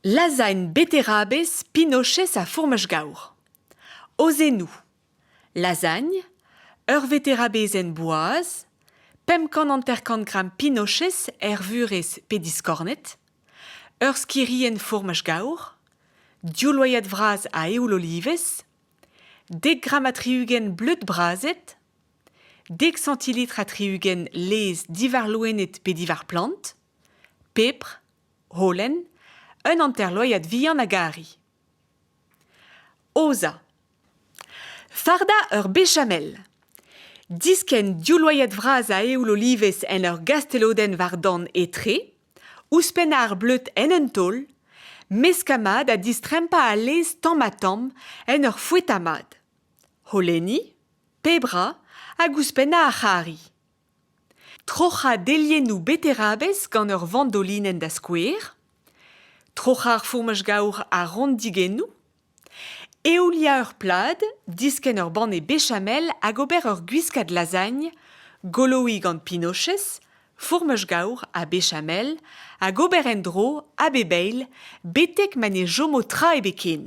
Lazhaén beterabez Pinochet a fourmaj-gaour. Aozennoù Lazagn, ur veterabezenn boaz, pemp kant hanter-kant gramm Pinochet er vurezh pe diskornet, ur skirienn fourmaj-gaour, div loyad vras a eoul olivez, dek gramm ha tri-ugent bleud brazet, dek centilitre ha tri-ugent laezh diwar loened pe diwar plant, pepr, holen, un hanterloiad vihan a gari. Oza. Fardañ ur bechamel. Diskenn div loiad vras a eoul olivez en ur gastelodenn war-dan etre, ouzhpennañ ar bleud en un taol, meskañ mat ha distrempañ al laezh tamm-ha-tamm en ur foetañ mat. holenniñ, pep ra hag ouzhpennañ ar c'harri. Troc'hañ deliennoù beterabez gant ur vandolinenn da skouer. Troc'hañ ar fourmaj gaour a-ront digennoù. Eouliañ ur plad, diskenn ur banne bechamel hag ober ur gwiskad lazagn, goloiñ gant pinochez, fourmaj gaour ha bechamel hag ober en-dro a bep eil betek ma ne chomo tra ebet ken.